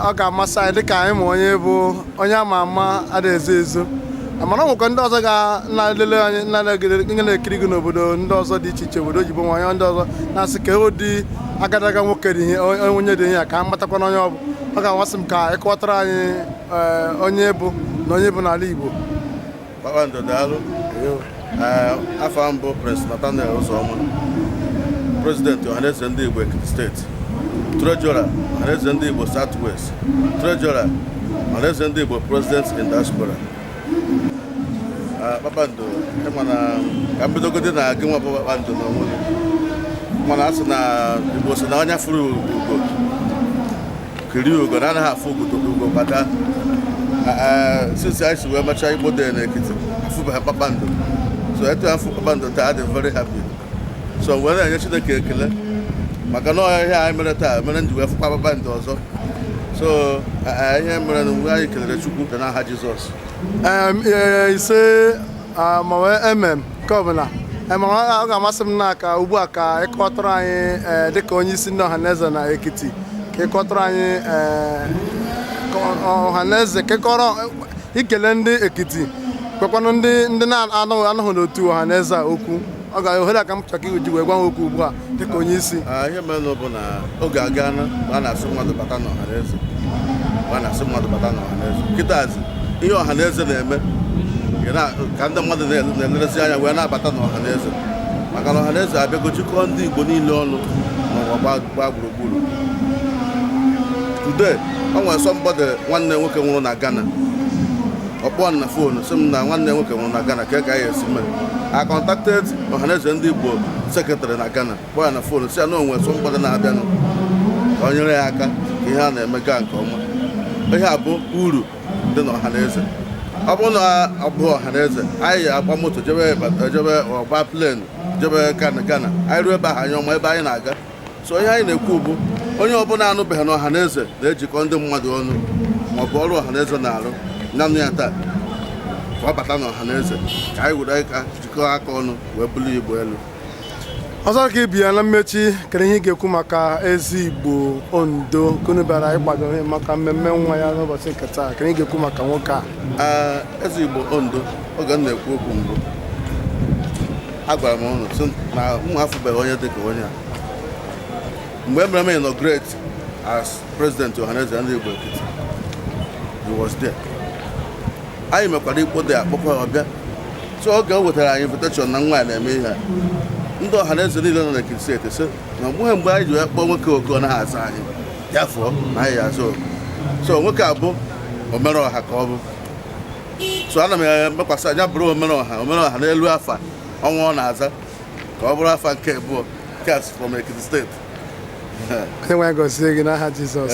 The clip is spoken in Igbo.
ọ ga-amasị anyị dịka anyị ma onye ị bụ onye ama ama adịghị ezo ezo mana o nwekwa ndị ọzọ ga na-elele anyị na-egide na-ekiri gị n'obodo ndị ọzọ dị iche iche obodo oyibo nwa onye ndị ọzọ na-asị ka ụdị agadaga nwoke dị ihe onye dị ihe a ka a matakwa na onye ọ bụ ọ ga-amasị m ka ị kọwatara anyị eh, onye ị bụ na onye ị bụ n'ala Igbo kpakpando daalụ afa m bụ Prince Nathaniel Ụzọma prezidenti ọhaneze ndị Igbo Ekiti steeti trejọra ọhaneze ndị Igbo South West trejọra ọhaneze ndị Igbo president in diaspora kpakpando ị ma na ka m bidogodi na gị nwa bụ kpakpando na onwe gị mana a sị na Igbo sị na onye fụrụ ugo kiri ugo na anaghị afụ ugo kwa daa since anyị si wee mechaa igbo day n'ekiti afụbeghị kpakpando so etu afụ kpakpando taa adị m very happy so wee na-enye chineke ekele maka na ọ ihe a ihe anyị mere taa mere m ji wee fụkwa kpakpando ọzọ so ihe merenụ bụ anyị kelere chukwu na aha jizọs ise Ah, maọbụ amen nke ọbụla Eh, ma ọ ọ ga-amasị m na ka ugbu a ka ị kọtụrụ anyị eh, dịka onye isi ndị ọhaneze na ekiti ka ị kọtụrụ anyị eh, ka ọ- ọhaneze ka ị kọrọ i kelee ndị ekiti gwakwanụ ndị ndị na-anọghị anọghị n'otu ọhaneze a okwu ọ ga ohere a ka m chọrọ ka i ji wee gwa ha okwu ugbu a dịka onye isi ihe mere bụ na oge agaana a na-asị mmadụ bata n'ọha na eze a na-asị mmadụ bata n'ọha na eze kịtazi ihe ọha na eze na-eme ka ndị mmadụ na-elerezi anya wee na-abata n'ọha na eze maka na ọha na eze abịago jikọọ ndị igbo niile ọnụ n'ụwa gbaa gburugburu today o nwere somebody nwanne nwoke nwụrụ na Ghana ọ kpọọ m na foonu sị m na nwanne nwoke nwụrụ na Ghana kee ka ya esi mee I contacted Ohanaeze ndị Igbo sekretarị na Ghana kpọọ ya na foonu sị ya na o nwere somebody na-abịanụ ka o nyere ya aka ka ihe a na-eme gaa nke ọma ihe a bụ uru dị na Ohanaeze ọ bụrụ na ọ bụ Ohanaeze anyị agba moto jebe jebe agba plen jebe Ghana Ghana anyị ruo ebe ahụ anyị ama ebe anyị na-aga so ihe anyị na-ekwu bụ onye ọbụla anụbeghị na ọhaneze na-ejikọ ndị mmadụ ọnụ maọbụ ọrụ ọhaneze na-arụ na-anụ ya taa ka ọ bata na ọhaneze ka anyị were aka jikọọ aka ọnụ wee bulie igbo elu ọzọ ka ibe ya na mmechi kere ihe ị ga-ekwu maka eze igbo ondo nke unu bịara ịkwado ihe maka mmemme nwa ya n'ụbọchị nke taa kere ị ga-ekwu maka nwoke a eze igbo ondo oge m na-ekwu okwu mbụ agwara m ụnụ sị na mụ afụbeghị onye dịka onye a mgbe e mere m inaugurate as president Ohanaeze ndị Igbo Ekiti he was there anyị mekwara Igbo Day a kpọkwa ya ọ bịa so oge o wetara anyị invitation na nwa ya na-eme ihe ndị Ohanaeze niile nọ na Ekiti steeti sị na mgbe mgbe anyị ji wee kpọọ nwoke oku ọ naghị aza anyị ya fụọ na anyị ya aza oku so nwoke a bụ omere ọha ka ọ bụ so ana m emekwasị anya bụrụ omere ọha omere ọha n'elu afa ọnwa ọ na-aza ka ọ bụrụ afa nke abụọ courtesy from Ekiti steeti onye nwe anyị gọzie gị n'aha Jizọs